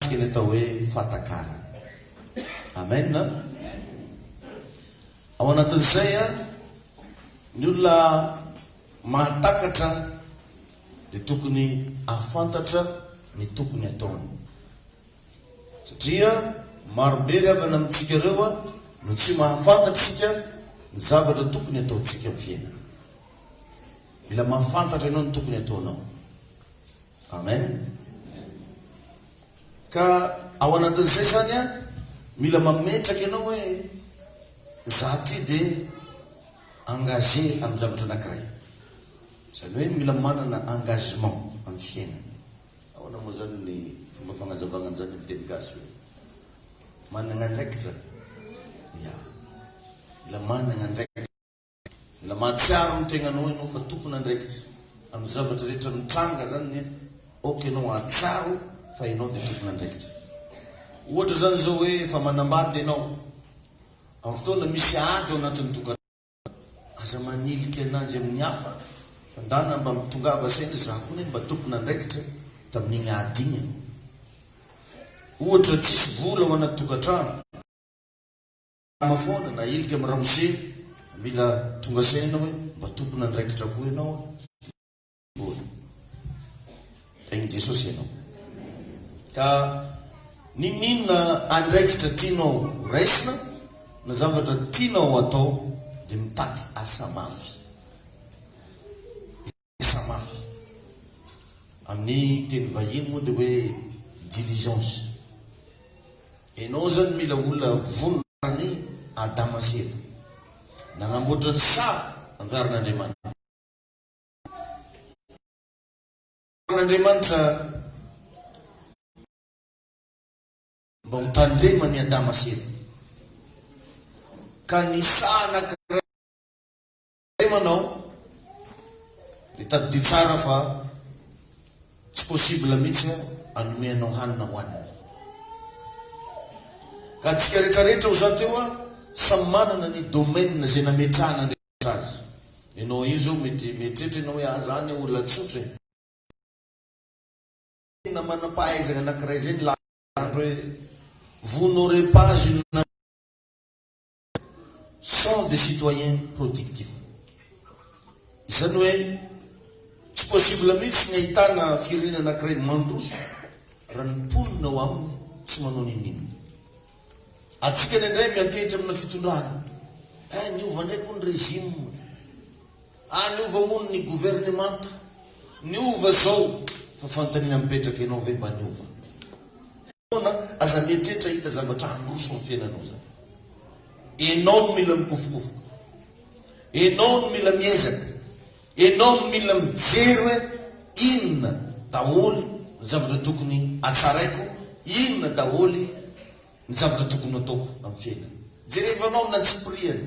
Mikasika ny atao hoe fahatakarana. Amen an! Ao anatin'izay an, ny olona mahatakatra dia tokony hahafantatra ny tokony hataony. Satria marobe ry havana amintsika ireo an, no tsy mahafantatra isika ny zavatra tokony hataontsika amin'ny fiainana. Mila mahafantatra ianao ny tokony hataonao. Amen. Ka ao anatin'izay zany an, mila mametraka ianao hoe za ty dia engagé amin'ny zavatra anankiray. Izany hoe mila manana engagement amin'ny fiainana. Ahoana moa zany ny fomba fagnazavagna an'izany amin'ny teny gasy hoe managna andraikitra? Ya, mila managna andraikitra. Mila mahatsiaro ny tegnanao enao fa tompon andraikitra aminy zavatra rehetra mitranga zany ny ok enao ahatsiaro fa enao de tompon andraikitra ohatra zany zao hoe efa manambady enao am fotoana misy ady ao anatiny tokantrano aza manilika ananjy aminy hafa fa ndana mba mitongava saina za koa ne mba tompon andraikitra taminigny ady igny aho ohatra tsisy vola ao anaty tokantrano Nama foana na ilika am ramose mila tonga saina hoe mba tompon andraikitra koa ianao a. Mbola. Tahin'i Jesosy ianao. Ka n'inon'inona andraikitra tianao horaisina na zavatra tianao hatao dia mitady asa mafy. Sa mafy? Amin'ny teny vahiny moa dia hoe diligence. Enao zany mila olona vonona taran'i Adama sy Eva. Nanamboatra ny saha anjaran' Andriamanitra. An' Andriamanitra mba ho tandreman'i Adama sy Eva. Ka ny saha anankiray. Hay manao, dia tadidio tsara fa tsy possible mihitsy hanome anao hanina hohanina. Ka antsika retraretra ho zato eo samy manana ny domaine izay nametrahan'Andriamanitra azy. Ianao io izao mety mieritreritra ianao hoe ah za anie olona tsotra e. Tena manam-pahaizana anankiray izay nilaza tamin'andro hoe vous n'aurez pas une sont des citoyens productifs. Izany hoe tsy possible mihitsy ny ahitana firenena anankiray mandroso raha ny mponina ao aminy tsy manao n'inon'inona. Antsika ny indray miantehitra amina fitondrana, eh niova indray koa ny régime, ah niova moa ny governemanta, niova izao, fa fanontaniana mipetraka ianao ve mba niova? fotoana aza mieritreritra hahita zavatra handroso ny fiainanao zany. Enao no mila mikofokofoka. Enao no mila miezaka. Enao no mila mijery hoe inona daholo ny zavatra tokony hatsaraiko, inona daholo ny zavatra tokony hataoko amin'ny fiainana. Jereva anao amin'ny antsipirihany.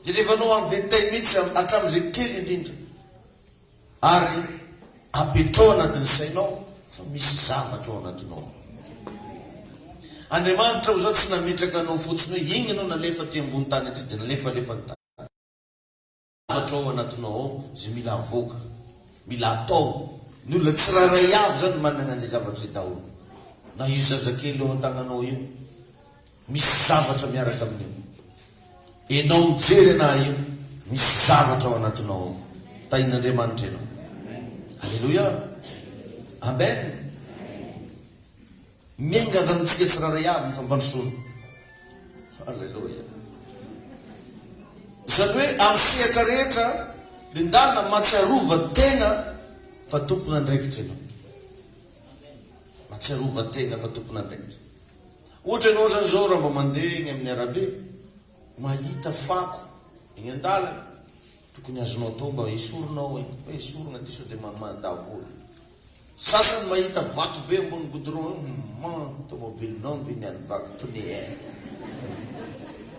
Jereva anao en détail mihitsy hatramin'izay kely indrindra. Ary apetraho anatin'ny sainao fa misy zavatra ao anatinao ao. Andriamanitra hoy izao, tsy nametraka anao fotsiny hoe iny ianao nalefa aty ambony tany aty dia nalefalefa ny tany. Zavatra ao anatinao ao izay mila avoaka, mila atao. Ny olona tsirairay avy izany manana an'izay zavatra izay daholo. Na io zazakely eo an-tagnanao io. Misy zavatra miaraka amin'io. Enao mijery anah eo, misy zavatra ao anatinao ao. Tahin'Andriamanitra enao. Aleloia. Amen. Miangavy amintsika tsirairay avy ny fampandrosoana. Aleloia. Izany hoe amin'ny sehatra rehetra dia ndana matsiarova tegna fa tompon'andraikitra enao. Matsiarova tegna fa tompon'andraikitra. Ohatra ianao zany zao raha mba mandeha eny amin'ny arabe, mahita fako eny an-dalana, tokony azonao atao mba esorina ao eny, hoe esorina ty sao dia mada vola. Sasany mahita vato be ambony goudron eo, humm an, tomobilinao ange ny any vaky pneu eh.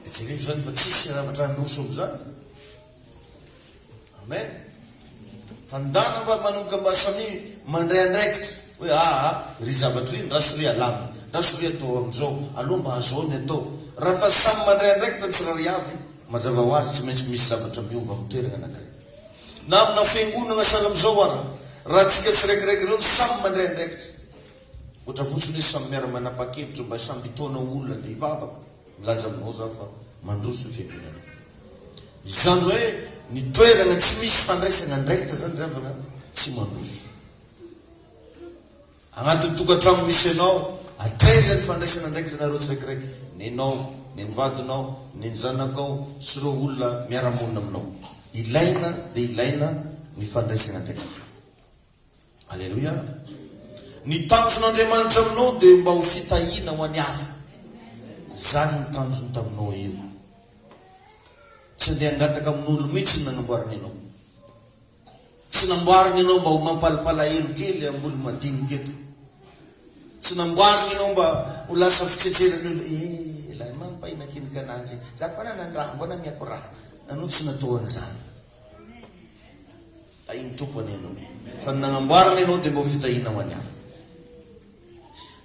Dia jereo zany fa tsisy zavatra handroso amin'izany. Amen. Fa ny dana mba manomboka mba samia mandray andraikitra hoe aa ry zavatra ry ndra soria alamina ndra soria atao amin'izao aloha mba azao ny atao. Raha fa samy mandray andraikitra ny tsirairay avy, mazava ho azy tsy maintsy misy zavatra miova amin'ny toerana anankiray. Na amina fiangonana sahala amin'izao ara, raha antsika tsiraikiraiky ireo no samy mandray andraikitra, ohatra fotsiny hoe samy miara-manapa-kevitra mba samy hitaona olona handeha hivavaka, Milaza aminao zaho fa mandroso ny fiangonana. Izany hoe ny toerana tsy misy fandraisana andraikitra izany ry havana tsy mandroso. Anatin'ny tokantrano misy anao, hatraiza ny fandraisana andraikitra anareo tsiraikiraiky, nenao, nen'ny vadinao, nen'ny zanakao sy ireo olona miara-monina aminao. Ilaina dia ilaina ny fandraisana andraikitra. Aleloia! Ny tanjon'Andriamanitra aminao dia mba ho fitahiana ho an'ny hafa. Izany no tanjony taminao io. Tsy handeha hangataka amin'olo mihitsy ny nanamboarany anao. Tsy namboariny anao mba ho mampalipalahelo kely amin'olo madinika eto. Tsy namboariny anao mba ho lasa fitsetseran'ny olo. Eh, ilay mampahina kinika anazy. Za koa nanandraha, mbona miakorà. Anao tsy natao an'izany. Tahin'ny Tompo anie ianao, fa ny nagnamboarany ianao dia mba ho fitahiana ho an'ny hafa.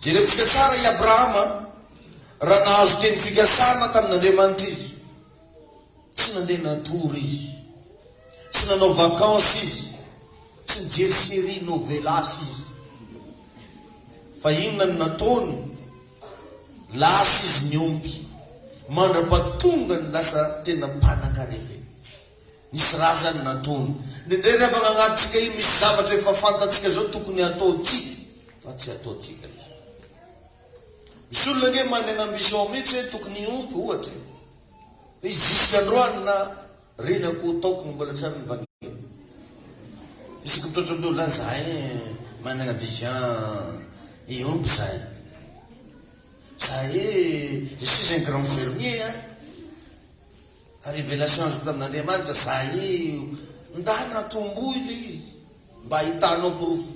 Jereo tsika tsara i Abrahama, raha nahazo teny fikasana tamin'Andriamanitra izy, tsy nandeha natory izy, tsy nanao vacances izy, tsy nijery série novelas izy. Fa inona no nataony? Lasa izy niompy, mandra-pahatongany lasa tena mpanankarena. Misy razany nataony. Nendrey ry havana agnatintsika io misy zavatra efa fantantsika zao tokony hataontsika fa tsy ataontsika izy. Misy olona ange manegna ambition mihitsy hoe tokony hiompy ohatra e. Fa izy jusque androany na renako ho taoko no mbola tsy ary nivangena. Isaky mitratra amindreo lahy zahay managna vision hiompy zahay. Zahay je suis un grand fermier a. Révélation azoko avy amin'Andriamanitra zay io ndana tomboy lé izy mba ahitanao porofo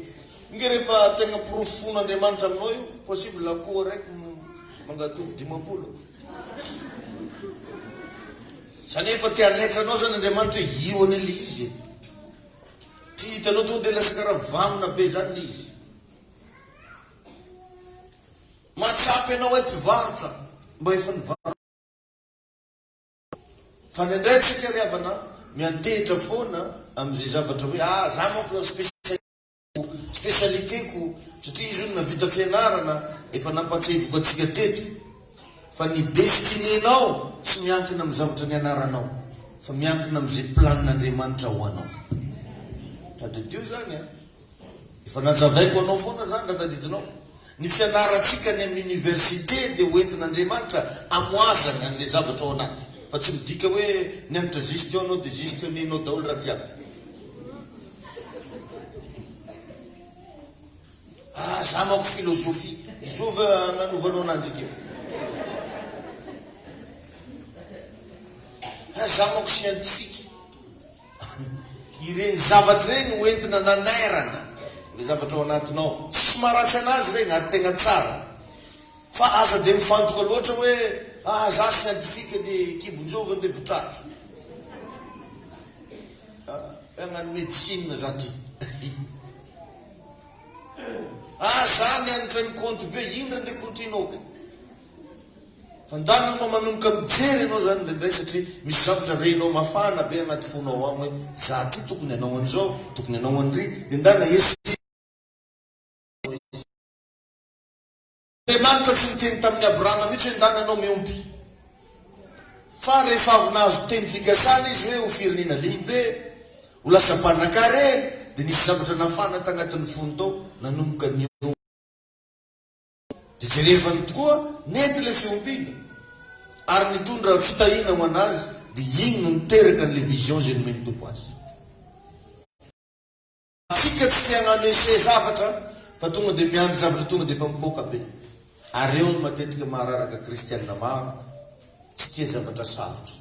nge rehefa tegna porofo fon'Andriamanitra aminao io possible akoho raiky mangatody dimampolo zany hoe efa te hanaitra anao zany Andriamanitra hoe io anie le izy e tsy hitanao tonga de lasa karaha mivangona be zany le izy mahatsapa ianao hoe mpivarotra mba efa nivarotra Fa ny indray tsika ry havana miantehitra foana amin'izay zavatra hoe ah za manko spécialiste ko, spécialité ko, satria izy io no navita fianarana, efa nampatsahiviko antsika teto fa ny destinée-nao tsy miankina amin'ny zavatra nianaranao fa miankina amin'izay planin'Andriamanitra ho anao. Tadidio zany a! Efa nanjavaiko anao foana zany raha tadidinao. Ny fianarantsika any amin'ny université dia ho entin'Andriamanitra amoazana an'ilay zavatra ao anaty. Fa tsy midika hoe nianatra gestion anao dia gestionner-nao daholo raha jiaby. Ah za manko philosophie. Izao ve agnanovanao ananjy ity? Ah za manko scientifique. Ireny zavatra ireny ho entina nanairana ilay zavatra ao anatinao. Tsy maharatsy anazy ireny ary tegna tsara. Fa aza dia mifantoka loatra hoe ah za scientifique dia kibonjovy dia votraka. Ah hagnano médecine za ty. Ah za nianatra ny compte be indry andeha kontoinao ka. Handalo anao manomboka mijery ianao zany indraindray satria misy zavatra renao mafana be anaty fonao ao hoe za ty tokony anao an'izao, tokony anao an'ry, de ndana hesiteno izy. Andriamanitra tsy niteny tamin'i Abrahama mihitsy hoe ndana anao miompy. Fa rehefa avy nahazo teny fikasana izy hoe ho firenena lehibe, ho lasa mpanankarena, de nisy zavatra nafana tagnatin'ny fony tao, nanomboka niompy. Dia jerevany tokoa nety ilay fiompiana ary nitondra fitahiana ho an'azy dia iny no niteraka an'ilay vision izay nomen'ny Tompo azy. Antsika tsy te hagnano essai zavatra fa tonga dia miandry zavatra tonga dia efa mipoaka be. Ary eo no matetika mahararaka kristiana maro tsy tia zavatra sarotra.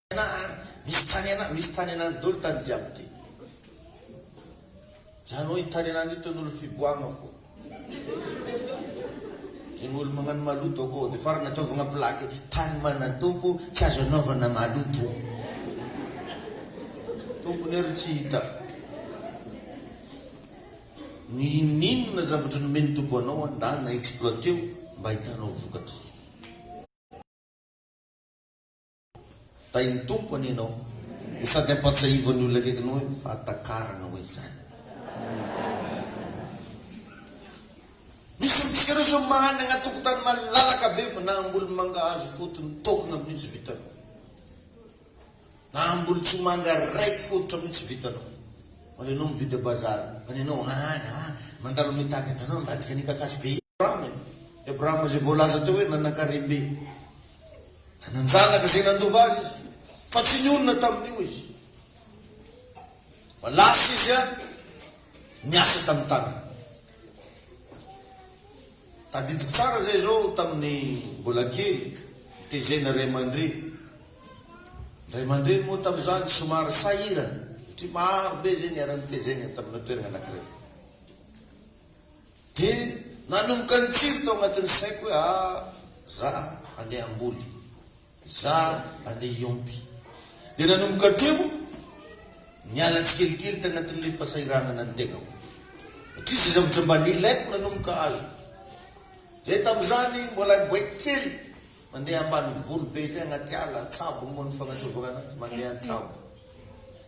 Tena a! Misy tany ana, misy tany ananjy dolo tany jiaby ty. Zany oe ny tany ananjy ito nolo fiboahagna fô. Zegny olo magnano maloto akô de fara nataovagna plaque tany mana tompo tsy azo anaovana maloto. Tompony ary tsy hita. Ny ininona zavatra nomeny tompo anao andana exploiteo mba hitanao vokatra. Tahin'ny Tompo anie ianao no sady ampahatsiahivan'ny olona akaikinao eo ny fahatakarana hoe izany. Misy amintsika ireo izao manana tokotany malalaka be fa na hamboly mangahazo fotony tokona amin'io tsy vitanao. Na hamboly tsomanga raiky fototra amin'io tsy vitanao. Fa ianao mividy a bazary, fa ny anao, ah, ah, mandalo amin'ny tany, hitanao, ambadika ny kakazo be. Abrahama e! I Abrahama izay voalaza teo hoe nanan-karem-be. Nanan-janaka izay nandova azy izy, fa tsy nionona tamin'io izy. Fa lasa izy a, niasa tamin'ny tanany. Tadidiko tsara izay izao tamin'ny mbola kely, tezena ray aman-dreny. Ray aman-dreny moa tamin'izany somary sahirana, satria maro be izay niara-nitezegna tamina toerana anankiray. Dia nanomboka nikiry tao anatin'ny saiko hoe ah za handeha hamboly, za handeha hiompy. Dia nanomboka teo niala tsikelikely tagnatin'ilay fasahiranana ny tegnako satria izay zavatra mba nilaiko nanomboka azoko. Zay tamin'izany mbola niboaiky kely mandeha ambanivolo be zay agnaty ala an-tsabo moa ny fagnatsoavana anazy, mandeha an-tsabo.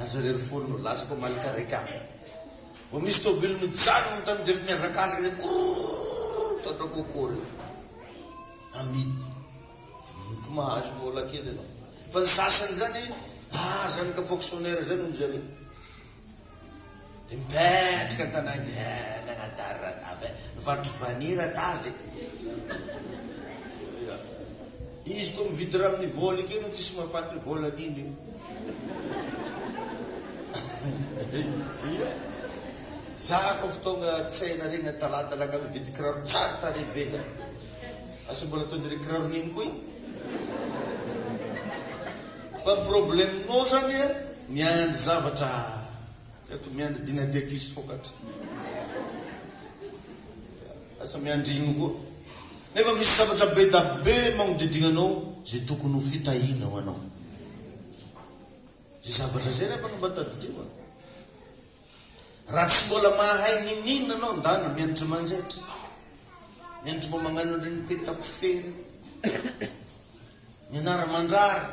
Aza irery foana no lasa ko malika reka a! Vao misy tôbily mijanona ny tany defa mihazakazaka zay krrrrrrr toaka coco reo amidy ino ko mahazo vola kely anao fa ny sasany zany ah zany ka fonctionnaire zay no mijareo. Dia mipetraka tanahy dia eh nanadary ranavy eh, nivarotra vanille ratavy eh. Ia. Izy koa mividy rano ny vola io kay no tsisy mampaty ny vola an'iny io. Ia. Za koa fa tonga tsena regny talata langa mividy kiraro tsara tarehy be za. Asa mbola tody re kiraro nino koa iny. Fa problème-nao zany eh miandry zavatra. Tsy haiko miandry dina d'épices vokatra. Lasa miandry ino koa. Nefa misy zavatra be da be magnodidina anao ze tokony ho fitahina ho anao. Ze zavatra zay nefa no mba tadidio a. Raha tsy mbola mahay niniana anao ndana miandry manjaitra. Miandry mba magnano an'ireny peta kofehy ireny. Mianara-mandrara,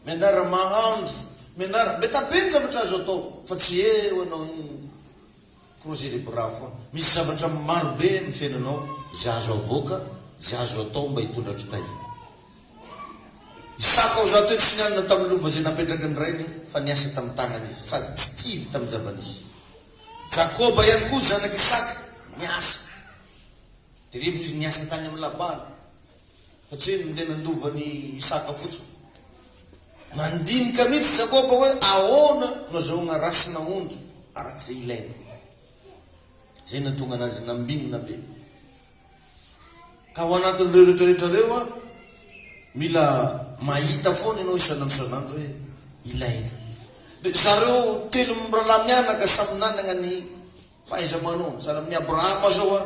mianara-mahandro, mianara, meta be ny zavatra azo atao fa tsy eo anao iny croiser les bras foana. Misy zavatra maro be amin'ny fiainanao izay azo avoaka, izay azo atao mba hitondra fitahiana. Isaka hoza toa tsy nianona tamin'ny lova izay napetraky ny rainy fa niasa tamin'ny tanany izy sady tsy kivy tamin'ny zava-nisy. Jakoba ihany koa zanak'i Isaka niasa. Dia rehefa izy niasa tany amin'i Labana. Satria ny tena handova an'i Isaka fotsiny. Nandinika mihitsy Jakoba hoe ahoana no azahoagna race na ondry araka izay ilainy. Izay nahatonga anazy nambinina be. Ka ao anatin'ireo rehetrarehetra ireo an, mila mahita foana ianao isan'andro isan'andro hoe ilainy. Dia zareo telo mirahalahy mianaka samy nanagna ny fahaiza-manaony. Sahala amin'i Abrahama izao an.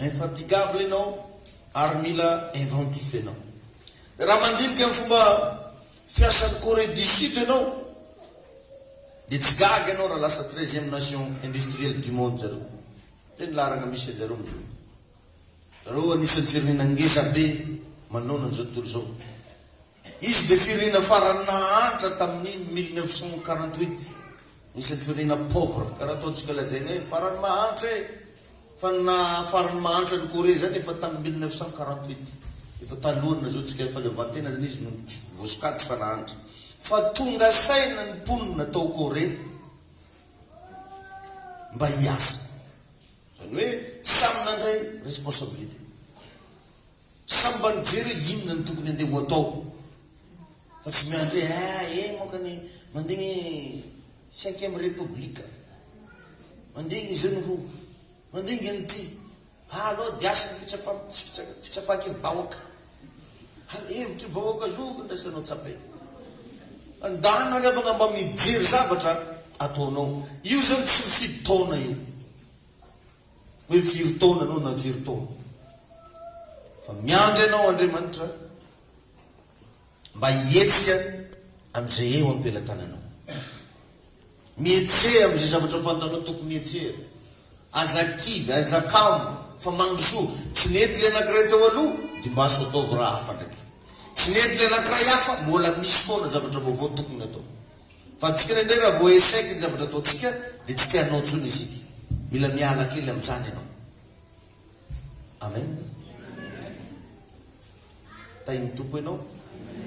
Infatigable ianao ary mila inventif ianao. Raha mandinika ny fomba fiasan'i Corée du Sud ianao dia tsy gaga ianao raha lasa treizième nation industrielle du monde zareo. Zay ny laharana misy anjareo amzao. Zareo anisan'ny firenena ngezabe manoloana an'izao tontolo izao. Izy dia firenena farany nahantra tamin'ny mille neuf cent quarante huit. Anisan'ny firenena pauvre, karaha ataontsika lazaina hoe farany mahantra e! Fa ny naha farany mahantra an'i Corée izany efa tamin'ny mille neuf cent quarante huit. Efa talohan'ny nahazoantsika fahaleovantena izany izy no voasokajy fa nahantra. Fa tonga saina ny mponina tao Corée mba hiasa. Izany hoe samy nandray responsabilité. Samy mba nijery hoe inona no tokony andeha ho atao fa tsy miandry hoe ah eh moka ny mandigny cinquième république mandigny zony ho mandigny an'ity ah aleo diaso ny fitsapako tsy fitsapako fitsapaky ny vahoaka ary hevitry vahoaka zo fandraisanao tsapaina andana ary afaka mba mijery zavatra ataonao io zany tsy mifidy taona io. hoe firy taona anao na firy taona fa miandry anao Andriamanitra mba hihetsika amin'izay eo am-pelatananao. Mihetsea amin'izay zavatra fantanao tokony hihetsehana. Aza kivy, aza kamo fa mandrosoa. Tsy nety ilay anankiray teo aloha, dimbaso ataovy raha hafa ndraiky. Tsy nety ilay anankiray hafa, mbola misy foana zavatra vaovao tokony atao. Fa tsika indray raha vao echec ny zavatra ataontsika dia tsy te hanao intsony isika. Mila miala kely amin'izany ianao. Amen. Tahin'ny Tompo ianao.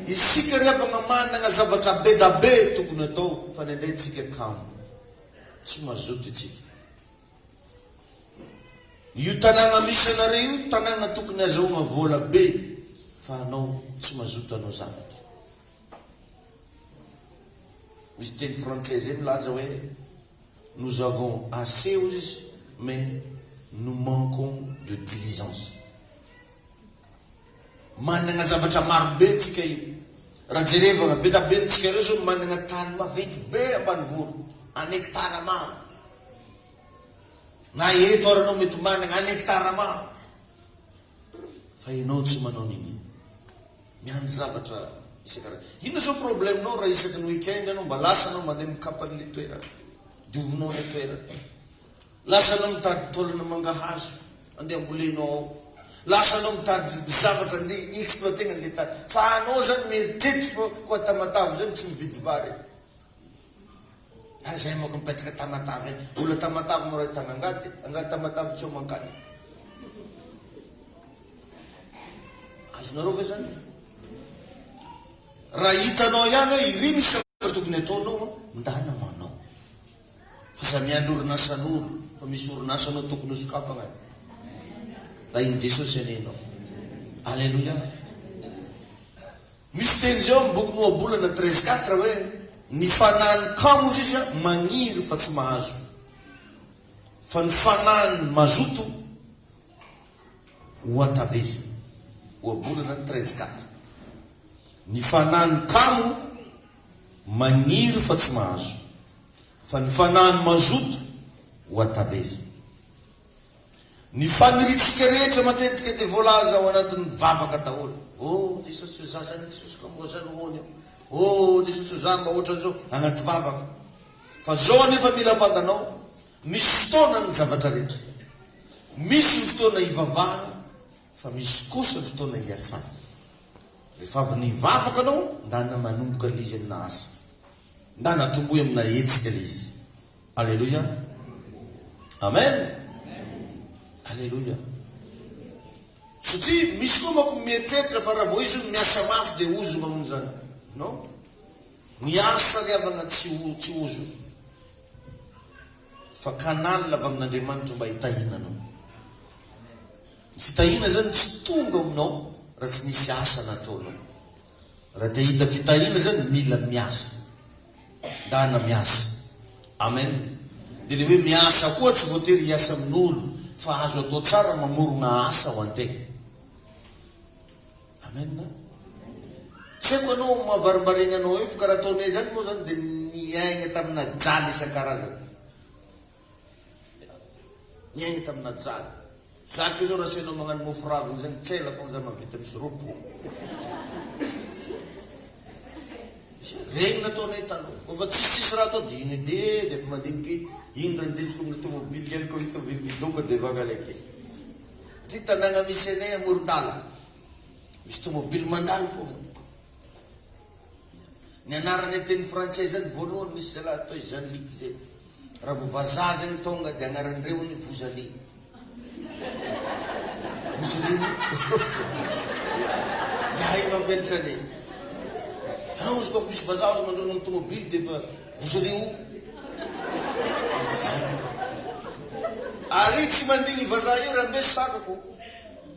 Isika ry havana manana zavatra be da be tokony atao fa ny indray tsika kamo. Tsy mazoto itsika. Io tanàna misy anareo io tanàna tokony azahoagna vola be fa anao tsy mazoto hanao zavatra. Misy teny frantsay izay milaza hoe nous avons assez hozy izy mais nous manquons de diligence. Managna zavatra maro be tsika io. Raha jerevagna be da ben tsika reo zao managna tany maventy be ambanivolo en hectare maro. Na eto ara nao mety managna en hectare maro. Fa ianao tsy manao nini. Miandry zavatra isan-karazany. Inona zao problème nao raha isaky ny week-end ianao mba lasa anao mandeha mikapa an'ilay toerana. Diovinao ilay toerana. Lasa anao mitady taolana mangahazo andeha ambolenao ao. Lasa anao mitady zavatra andeha hi-exploiter-na an'ilay tany. Fa anao zany mieritreritra fa koa Tamatave zany tsy mividy vary. Ary zay manko mipetraka Tamatave any. Olona Tamatave moa rahitana angady e. Angady Tamatave tsy eo mankany e. Azonareo ve zany e? Raha hitanao ihany hoe iry misy zavatra tokony ataonao an, ndana manao. Fa za miandry orinasan'olo, fa misy orinasa anao tokony ho sokafagna e. Ndahin'i Jesosy anie ianao. Aleloia. Misy teny izay ao amin'ny bokin'i Ohabolana treize quatre hoe, Ny fanahin'ny kamo sisa magniry fa tsy mahazo, fa ny fanahin'ny mazoto hohatavezina. Ohabolana treize quatre. Ny fanahin'ny kamo magniry fa tsy mahazo, fa ny fanahin'ny mazoto hohatavezina. Ny faniritsika rehetra matetika dia voalaza ao anatin'ny vavaka daholo. Oh Jesosy o, za zany Jesosy ka mboza nohony eo. Oh Jesosy o, za mba ohatran'izao anaty vavaka. Fa zao anefa mila fantanao, misy fotoana ny zavatra rehetra. Misy ny fotoana hivavahana fa misy kosa ny fotoana hiasana. Rehefa avy nivavaka anao, ndana manomboka ilay izy amina asa. Ndana tomboy amina hetsika ilay izy. Aleloia! Amen! Aleloia! Satria misy koa manko mieritreritra fa raha vao izy io miasa mafy dia ozona hono izany. Non. Ny asa ry havana tsy ho tsy ozona. Fa canal avy amin'Andriamanitra mba hitahiana anao. Ny fitahiana izany tsy tonga aminao raha tsy nisy asa nataonao. Raha te hahita fitahiana izany mila miasa. Dana miasa. Amen. Dia le hoe miasa koa tsy voatery hiasa amin'olo fa azo atao tsara mamorogna asa ho antegna. Amen a. Tsy haiko anao mahavarmbaregna anao eo fa karaha ataonay zany moa zany dia niaigna tamina jaly isan-karazany. Niaina tamina jaly. Za ko zao ra asainao magnano mofo raviny zany tsy ela fogna za mavita misy roa polo. Regny nataonay taloha. Ko fa tsisy tsisy raha atao de iny edy ee de efa mandinika iny. Iny ndray nideritsiky amina tomobile ihany ko izy tomobile midoka de vangala kely. Satria tanagna misy anay amoron-dala. Misy tomobile mandalo fogna. Ny anarana teny frantsay izany voalohany misy zalahy atao hoe Jean Luc izay raha vao vazaha zany tonga dia anaran'irehony Vozali. Vozolin. Ihay mampianatra anay. Ianao izy koa misy vazaha azo mandroana amin'ny tomobily dia efa Vozali o. Izany. Ary tsy mandigny vazaha io raha mbe sakako.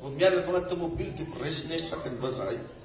Vao miala avy agnaty tomobily dia efa raisinay sakany vazaha io.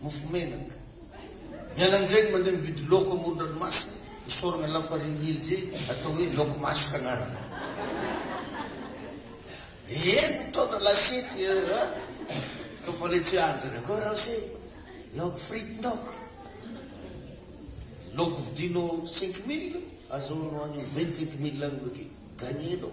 mofo menaka. Miala an'izay mandeha mividy laoko amoron-dranomasina, isaorana lafarine hely izay atao hoe laoko masoka agnarany. Dia eny mitaona lasiety eh, ka fa ilay tsy ahantra dia koa raha se laoko frite ndaoko. Laoko vidinao cinq mille, azahoanao any vingt-cinq mille any hoe dia gagner-nao.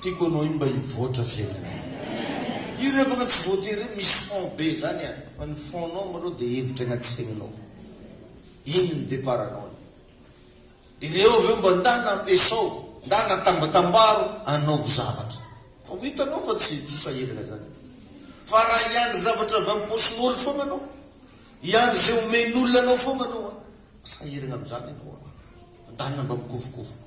Tiako anao iny mba hivoatra fiainanay. Hira afaka tsy voatery hoe misy fond be zany an, fa ny fond nao malou dia hevitra agnaty saininao. Iny ny départ anao ny. Ireo avy eo mba ndana ampiasao, ndana atambatambaro, anaovo zavatra. Fa ho hitanao fa tsy trosa herigna zany. Fa raha hiandry zavatra avy am paosin'olo fogna anao, hiandry zay omen'olona anao fogna anao an, lasa herigna amzany anao an. Ndana mba mikofokofoka.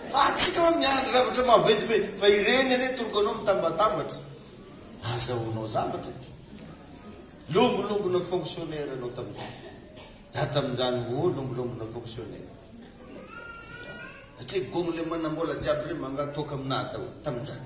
Fa antsika hoe miandry zavatra maventy be fa ireny anie toloko anao mitambatambatra azahoanao zavatra e! Longolongona fonctionnaire ianao tamin'izany dia ato amin'izany oh longolongona fonctionnaire satria gonglemana mbola jiaby ireny mangatoaka aminà daholo tamin'izany.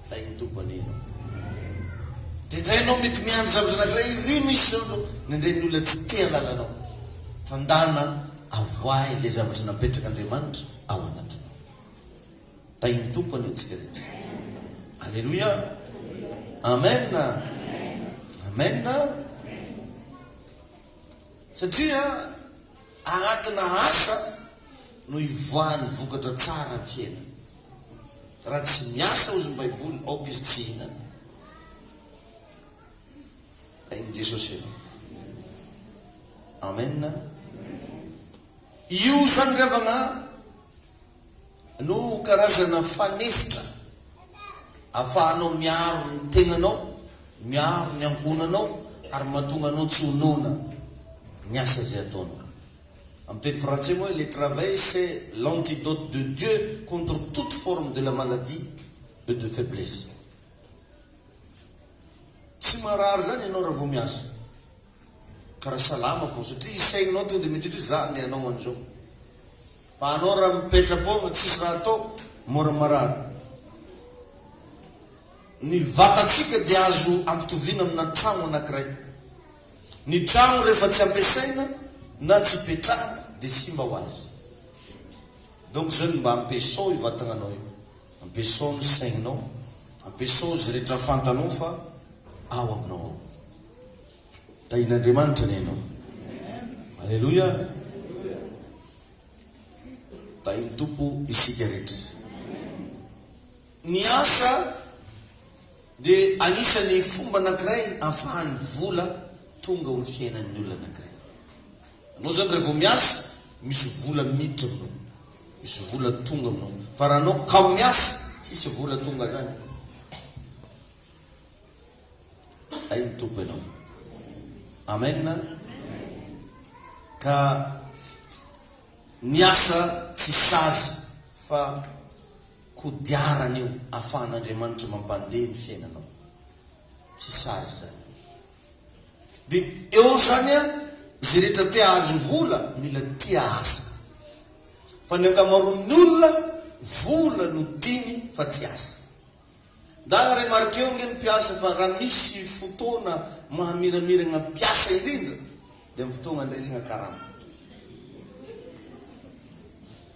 Hay ny Tompo anena o. Dia indray ianao mety miandry zavatra anankiray iry misy izao no nendren'ny olona tsy te halala anao. Fa ndana avoahy ilay zavatra napetrak'Andriamanitra ao anatinao. Tahin'ny Tompo anie antsika rehetra. Aleloia. Amen. Amen. Satria anatina asa no ivoahan'ny vokatra tsara amin'ny fiainana. Raha tsy miasa ozy ny baiboly aoka izy tsy hihinana ain'i Jesosy ianao. Amen. Io izany ry havagna no karazana fanefitra afahanao miaro ny tegnanao, miaro ny ankohonanao ary mahatonga anao tsy ho noana ny asa izay ataonao. Amin'ny teny frantsay hoe le travail c'est l'antidote de Dieu contre toute forme de la maladie et de faiblesse. Tsy marary izany ianao raha vao miasa ka raha salama fao satria i saininao tonga dia miditra hoe za ndeha hanao an'izao. Fa anao raha mipetra-poagna tsisy raha atao mora marary. Ny vatantsika dia azo ampitoviana amina tragno anankiray. Ny trano rehefa tsy ampiasaina na tsy ipetrahana dia simba ho azy. Donc zany mba ampiasao io vatagnanao io, ampiasao ny saigninao, ampiasao izay rehetra fantanao fa ao aminao ao. Tahian'Andriamanitra anie ianao. Aleloia. Tahin'ny Tompo isika rehetra. Ny asa dia anisan'ny fomba anankiray ahafahan'ny vola tonga amin'ny fiainan'ny olona anankiray. Ianao izany raha vao miasa, misy vola miditra aminao, misy vola tonga aminao. Fa raha ianao kamo miasa, tsisy vola tonga izany. Hay ny Tompo ianao. Amen. Ka ny asa tsy sazy fa Kodiarana io afahan'Andriamanitra mampandeha ny fiainanao. Tsy sazy izany. Dia eo izany an, izay rehetra te hahazo vola, mila tia asa. Fa ny ankamaroan'ny olona, vola no tiany fa tsy asa. Ndana remarquer-o ange ny mpiasa fa raha misy fotoana mahamiramiragna mpiasa indrindra dia amin'ny fotoagna andresagna karama.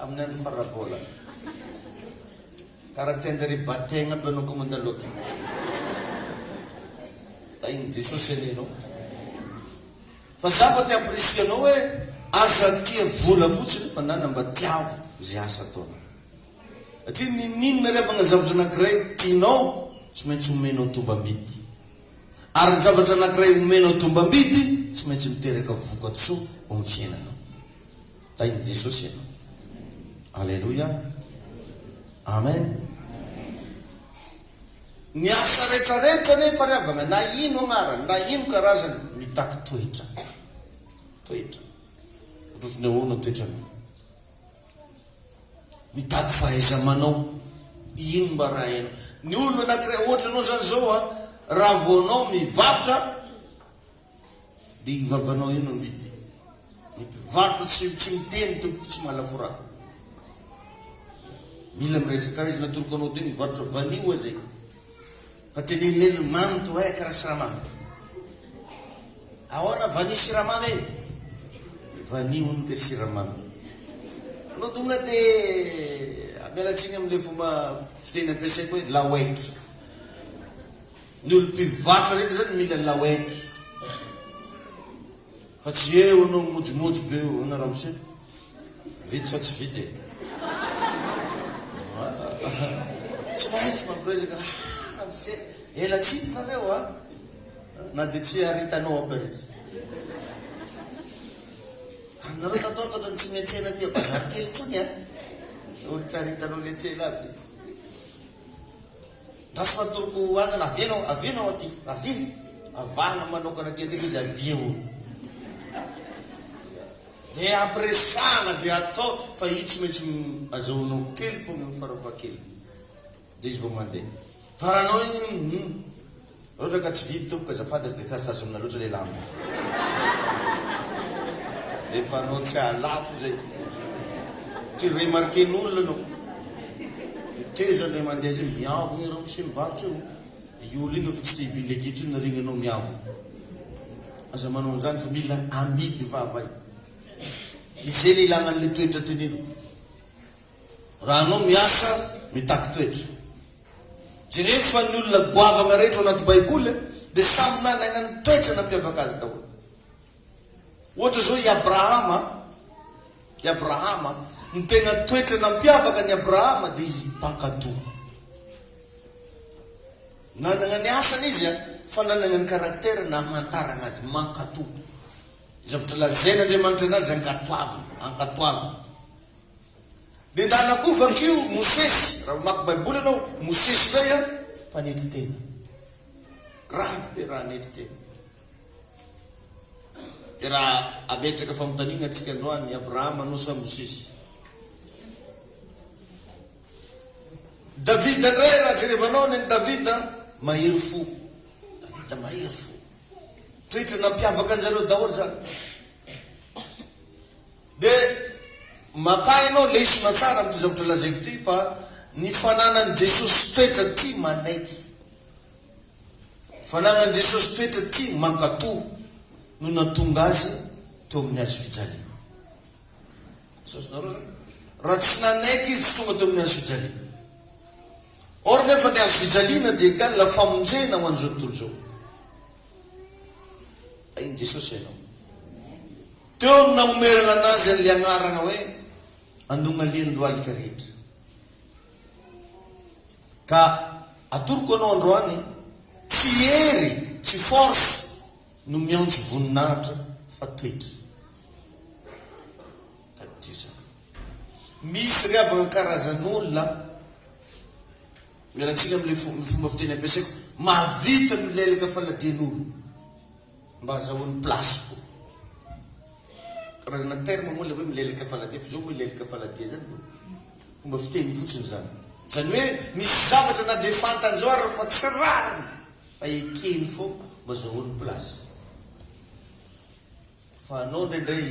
Amin'ny andro farara bola. Kara tianjare hibategna aby anao comme andaloty. Da iny Jesosy anie anao. Fa za fa te apprécier anao hoe aza tia vola fotsiny fa nana mba tiavo ze asa ataonao. Satria nininona ary havagna zavatra anakiray tianao tsy maintsy omenao tombambidy. Ary ny zavatra anakiray omenao tombambidy tsy maintsy miteraka vokatsoa ho amin'ny fiainanao. Tahin'i Jesosy ianao. Aleloia. Amen. Ny asa rehetra rehetra anefa ry havana, na ino agnarany, na ino karazany, mitaky toetra. Toetra. Ohatr'ohatry ny ahoana toetranao? Mitaky fahaiza-manao. Ino mba raha hainao? Ny olona anankiray, ohatra anao zany zao a, raha vao anao mivarotra, Dia io vavanao io no amidiny. Ny mpivarotra tsy tsy miteny tompoko tsy mahalafo ra. Mila miresaka ra izy natoroko anao teo mivarotra vanio aza e. Fa teneneneno mamy to eh karaha siramamy. Ahoana vanio siramamy e? Vanio hono ka siramamy. Anao tonga dia miala tsiny amin'ilay fomba fiteny ampiasaiko hoe laoek. Ny olo mpivarotra rehetra zany mila lawed fa tsy eo anao mojomojy be eo na ramose vita sa tsy vita e tsy maintsy mampiresaka ah ramose ela tsy hita nareo a na de tsy haritanao aby ary izy aminareo natao totra ny tsy metsena aty bazary kely tsony a olo tsy haritanao letsela aby izy Andraso atoroko ho anina avia anao avia anao aty avia avahana manokana aty ndraiky izy avia o de ampi resahana de atao fa io tsy maintsy azahoanao kely fogna io farafahakeliny de izy vao mandeha fa raha anao io hum Londraka tsy vidy tompoko azafady aza de tsy azo tazomina loatra le lamba rehefa anao tsy ahalafo zay ty remarquer n'olona anao ny tezany le mandeha zay miavo iereo mse mivarotra eo i olo iny efa tsy te hivily le gidro iny nareo enao miavo aza manao anzany fa mila amidy vava izay le ilana anle toetra teneniko. Raha anao miasa mitaky toetra. Jerevo fa ny olona goavana rehetra ao anaty baiboly dia samy nanagna ny toetra nampiavaka azy daholo. Ohatra zao i Abrahama, i Abrahama, ny tena toetra nampiavaka an'i Abrahama dia izy mpankato. Nanagna ny asany izy a, fa nanagna ny caractère namantaragna azy, mankato. Zavatra lazain'Andriamanitra anazy ankatoavina, ankatoavina. Dedala koa vakio Mosesy raha mamaky baiboly ianao, Mosesy indray an, mpanetry tena. Grave be raha hanetry tena. Dia raha ametraka fanontaniana antsika androany, Abrahama anao sa Mosesy? Davida indray raha jerevanao any an'i Davida, mahery fo. Davida mahery fo. Toetra nampiavaka anjareo daholo zany. Dia maka ianao lesona tsara amin'ity zavatra lazaiko ity fa ny fananan'i Jesosy toetra tia manaiky, fananan'i Jesosy toetra tia mankatò no natonga Azy teo amin'ny hazo fijaliana. Azonareo izany? Raha tsy nanaiky Izy tsy tonga teo amin'ny hazo fijaliana. Or nefa ny hazo fijaliana dia égale famonjena ho an'izao tontolo izao. Hain'i Jesosy ianao. Teo no namomerana anazy an'ilay anarana hoe Andongalian'ny lohalika rehetra. Ka atoroko anao androany, tsy hery, tsy force no miantso voninahitra fa toetra. Tadidio izany. Misy ry havana karazan'olona, miala tsiny amin'ilay fomba fiteny ampiasaiko, mahavita milelaka faladian'olona. Mba azahoany place ko. Karazana terme moa le hoe milelaka faladia fa zao moa hilelaka faladia zany vao fomba fiteny fotsiny zany. Zany hoe misy zavatra na dia fantany zao ary fa tsy rariny fa ekeny foana mba azahoany place. Fa anao indraindray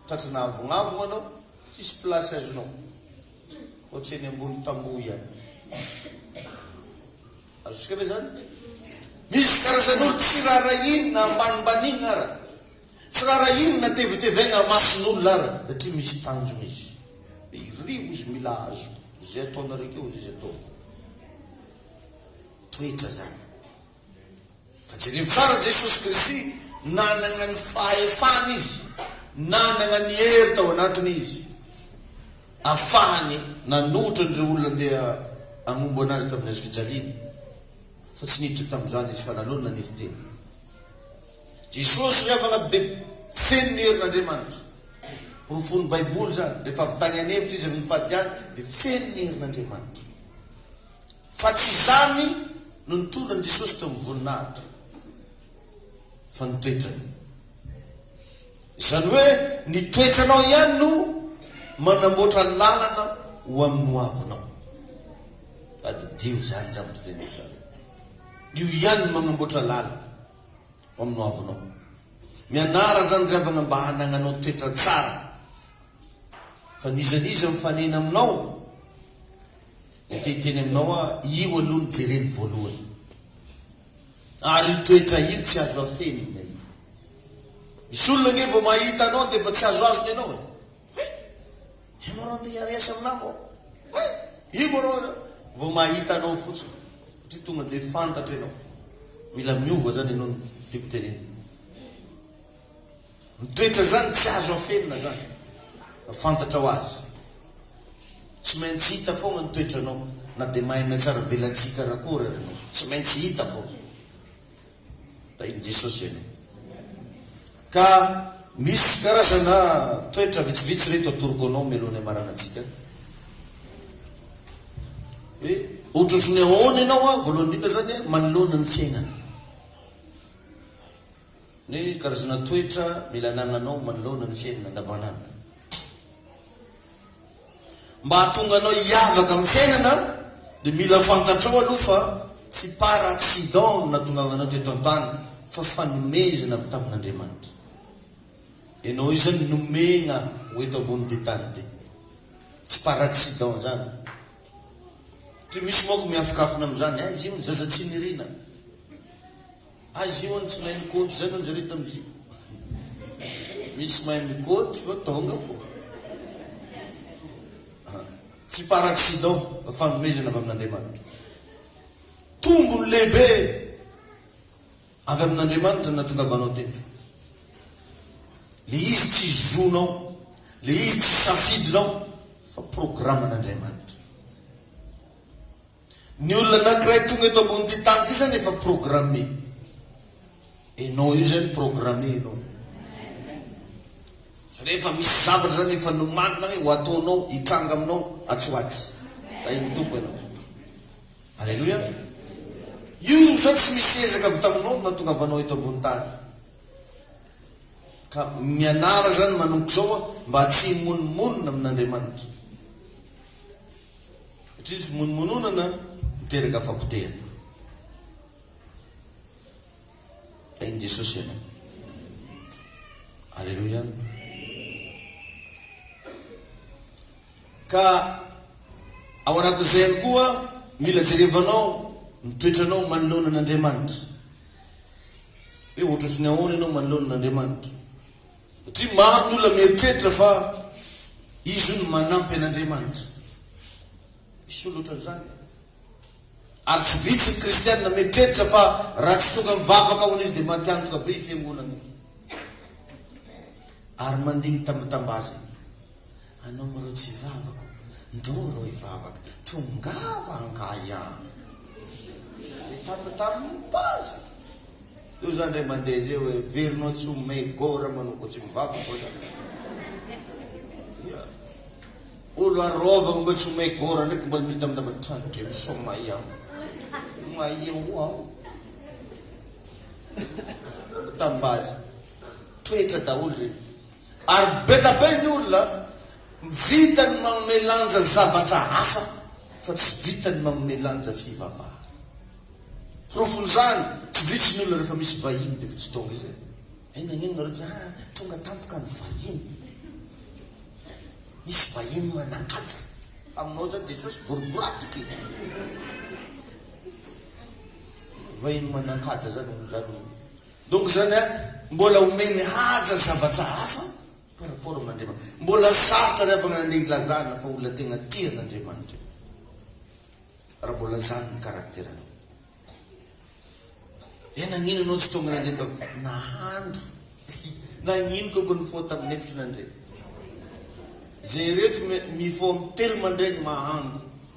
tratry na avonavogna anao tsisy place azonao. Ohatry eny ambony tamboho ihany. Azontsika ve izany? Misy karazan'olo tsy raharahiana ambanimbanina ara. Tsy raharahiana tevetevaigna mason'olo ara satria misy tanjona izy. Dia iry ozy mila azo izay ataonareo keo ozy izy ataoko. Toetra zany. Ka jereo tsara Jesosy Kristy nanagna ny fahefana izy nanagna ny hery tao anatiny izy afahany nanohitra an'ireo olona andeha agnombo anazy tamin'ny hazo fijaliana fa tsy niditra tamin'izany izy fa nalony nanidy tena Jesosy miavagna be feno ny herin'Andriamanitra porofon'ny baiboly izany rehefa avy tagny an'efitra izy amy ny fahadiany dia feno ny herin'Andriamanitra. Fa tsy izany no nitondra an'i Jesosy teo amin'ny voninahitra, fa ny toetrany. Izany hoe ny toetranao ihany no manamboatra lalana ho amin'ny hoavinao. Tadidio izany zavatra teneniko izany. Io ihany no manamboatra lalana ho amin'ny hoavinao. Mianara izany ry havana mba hanagnanao toetra tsara. Fa n'iza n'iza mifanena aminao. Dia te hiteny aminao aho, io aloha no jereno voalohany. Ary io toetra io tsy azo afenina io. Misy olona ange vao mahita anao dia efa tsy azoazony ianao e. He! Io ma rô te hiareasa aminà vao? He! Io ma rô vao mahita anao fotsiny satria tonga dia fantatra ianao. Mila miova izany ianao no tiako tenenina. Ny toetra zany tsy azo afenina zany fa fantatrao azy. Tsy maintsy hita foagna ny toetranao na de mahay miatsara velatsihy karakôry ary anao. Tsy maintsy hita foagna. Tahin'i Jesosy anao. Ka misy karazana toetra vitsivitsy reto atoroko anao mialohan'ny hamarana antsika. Hoe ohatrohatry ny ahoana ianao a, voalohany indrindra zany a, manoloana ny fiainana. Ny karazana toetra mila anagnanao manoloana ny fiainana andavanandro mba hahatonga anao hiavaka amin'ny fiainana dia mila fantatrao aloha fa tsy par accident no nahatongavanao teto an-tany fa fanomezana avy tamin'Andriamanitra ianao io zany nomegna ho eto ambonin'ity tany ity tsy par accident zany try misy manko miafikafina amin'izany aiza io ny zaza tsy nirina Azy io any tsy mahay mikôdy zany hono zareo tamzio misy mahay mikôdy fa tonga fô ah tsy par accident fa fanomezana avy amin'Andriamanitra tombony lehibe avy amin'Andriamanitra ny nahatongavanao teto le izy tsy zonao le izy tsy safidinao fa programan'Andriamanitra Ny olona anankiray tonga eto ambon'ity tany ity zany efa programme. Enao io zany programme enao. Zany hoe efa misy zavatra zany efa nomanina hoe ho ataonao hitranga aminao atsy ho atsy. Tahin'ny Tompo enao. Alléluia. Io zany tsy misy ezaka avy taminao no nahatongavanao eto ambony tany. Ka mianara zany manomboka izao mba tsy himonomonona amin'Andriamanitra. Satria fimonomononana miteraka fapotehana. Hain'i Jesosy ianao. Aleloia. Ka ao anatin'izay ihany koa, mila jerevanao ny toetranao manoloana an'Andriamanitra. Hoe ohatratry ny ahoana ianao manoloana an'Andriamanitra? Satria maro ny olona mieritreritra fa izy hono manampy an'Andriamanitra. Misy olona ohatran'izany e. Ary tsy vitsy ny kristiana mieritreritra fa raha tsy tonga mivavaka hono izy dia maty antoka be i fiangonana io. Ary mandingita mitambaza. Anao moa reo tsy hivavaka ô? Ndoo reo hivavaka, tongava angahy a! Dia tambitamby ny pazy. Eo zany ndray mandeha zay hoe verinao tsy ho may gôra manao ko tsy mivavaka ô zany. Ia. Olo arôvagna mba tsy ho may gôra ndraiky mbola midambidamba tany ndre misaoma ahy aho. Maia ho aho. Tambazy. Toetra daholo reny. Ary betabe ny olona vita ny manome lanja zavatra hafa fa tsy vita ny manome lanja fivavahana. Porofon'izany, tsy vitsy ny olona rehefa misy vahiny dia efa tsy tonga izay. Hay nagnino nareo tsy ah tonga tampoka ny vahiny. Misy vahiny manakaja. Aminao zany Jesosy boriboratoka e. Vahiny manakaja zany ohatran'ny Donc zany a mbola omeny haja zavatra hafa par rapport amin' Andriamanitra. Mbola sarotra ary avana nandeha ilazana fa olona tegna tia an' Andriamanitra io. Raha mbola zany ny karakteranao. Eh nagnino anao tsy tonga nandeha tav nahandro nagnino ko mba nifoha tamin' efatra nandregny. Zay reto me mifoha am telo mandraigny mahandro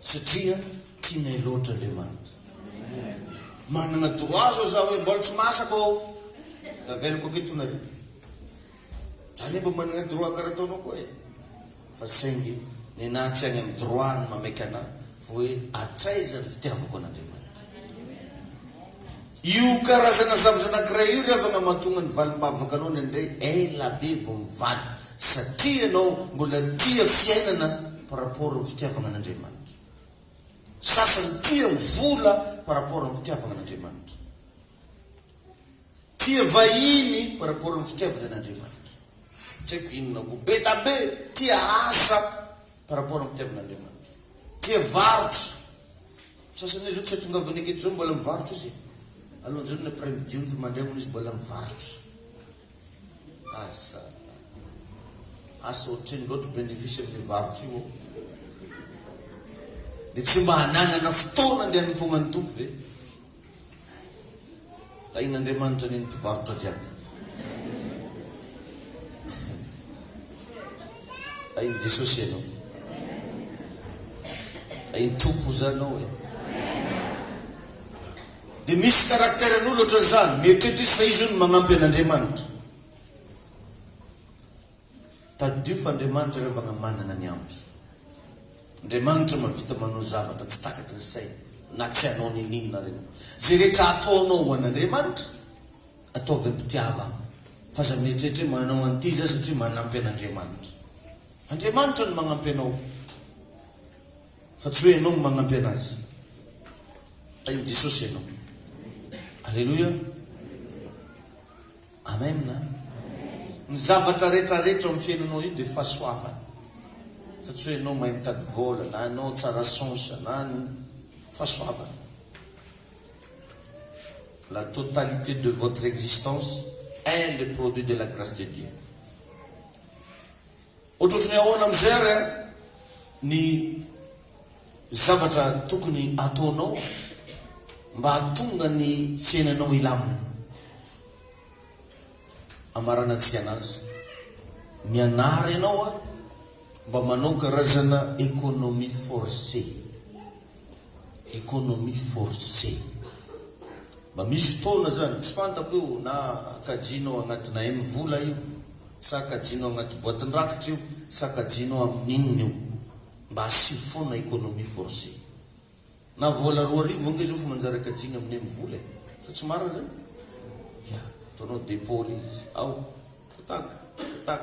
Satria tianay loatra Andriamanitra. Manana droit zao za hoe mbola tsy masaka oo, avelako aketonareo. Za anie mba manana droit karaha ataonao koa e. Fa saingy nenaha tsy any amin'ny droit ny mameky anahy fa hoe hatraiza ny fitiavako an'Andriamanitra. Io karazana zavatra anankiray io ry havana mahatonga ny valim-bavaka anao indraindray ela be vao mivaly satria ianao mbola tia fiainana par rapport ny fitiavagna an'Andriamanitra. Ny sasany tia ny vola par rapport ny fitiavagna an'Andriamanitra. Tia vahiny par rapport ny fitiavany an'Andriamanitra. Tsy haiko inona koa. Be da be tia asa. par rapport amin'ny fitiavan'Andriamanitra. Tia varotra. Sasany hoe zao tsy atongavany aketo zao mbola mivarotra izy e. Alohan'izao ny après midi io nefa mandray hono izy mbola mivarotra. Aza. Asa ohatrino loatra bénéfice amin'io varotra io ô. Dia tsy mba hananana fotoana andeha hanompoagna ny Tompo ve? Tahin'Andriamanitra anie ny mpivarotra jiaby. Tahin'i Jesosy ianao. Tahin'i Tompo oza anao e. Dia misy karakteran'olo ohatran'izany, mieritreritra izy fa izy hono magnampy an'Andriamanitra. Tadidio fa Andriamanitra ireo vagna managna ny ampy. Andriamanitra mampita manao zavatra tsy takaky ny sainy na tsy hanao nininon areo. Ze rehetra ataonao ho an Andriamanitra, ataovy ampitiavagna. F'aza mieritreritra hoe manao an'ity za satria manampy an Andriamanitra. Andriamanitra no magnampy anao fa tsy hoe ianao no magnampy anazy. Tahin Jesosy ianao. Aleloia. Amen a! Ny zavatra rehetra rehetra ao amin'ny fiainanao io dia fahasoavana fa tsy hoe ianao mahay mitady vola na ianao tsara sens na ny fahasoavana la totalité de votre existence est le produit de la grace de Dieu. Ohatrohatry ny ahoana amin'izay ary ny zavatra tokony hataonao mba hahatonga ny fiainanao hilamina? Hamaranantsika an'azy. Mianara ianao mba manao karazana economie forcée. Economie forcée. Mba misy fotoana zany, tsy fantako io na kajianao agnatina M vola io, sa kajianao agnaty boatin-drakitra io, sa kajianao amin'ny inona io. Mba asio foana economie forcée. Na vola roa arivo ange zao efa manjary akajiana amin'ny M vola e. Sa tsy marina zany? Ya. Ataonao dépôt le izy. Ao. Tac, tac.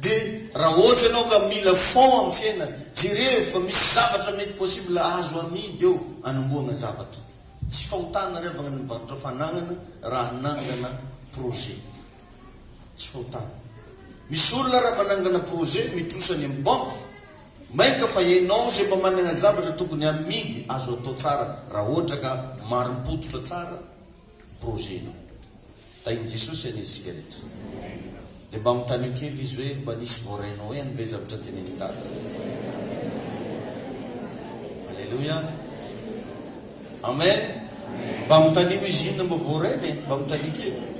De raha ohatra ianao ka mila fond amin'ny fiainana, jerevo fa misy zavatra mety possible azo amidy eo anombohagna zavatra. Tsy fahotana ry havagna ny mivarotra fanagnana raha hanangana projet. Tsy fahotana. Misy olona raha manangana projet mitrosa any amin'ny banque, mainka fa ianao zay mba managna zavatra tokony amidy azo atao tsara raha ohatra ka marim-pototra tsara, projet-nao. Tahin'i Jesosy anie isika rehetra. Dia mba mitanio kely izy hoe mba nisy voarainao ihany ve zavatra tenenin'i Dada? Alléluia. Amen. Mba mitanio izy inona mba voarainy e, mba mitanio kely.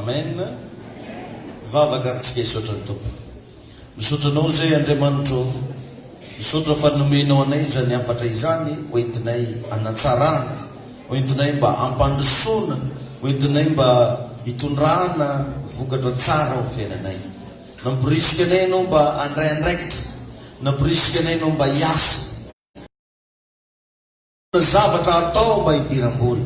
Amen. Vavaka ary tsika hisaotra ny Tompo. Misaotra anao izay Andriamanitra o! Misaotra fa nomenao anay izany hafatra izany hoentinay hanatsarana, hoentinay mba hampandrosoana, hoentinay mba hitondrana vokatra tsara ho fiainanay. Namporisika anay Ianao mba handray andraikitra, namporisika anay Ianao mba hiasa, hanana zavatra hatao mba hidiram-bola.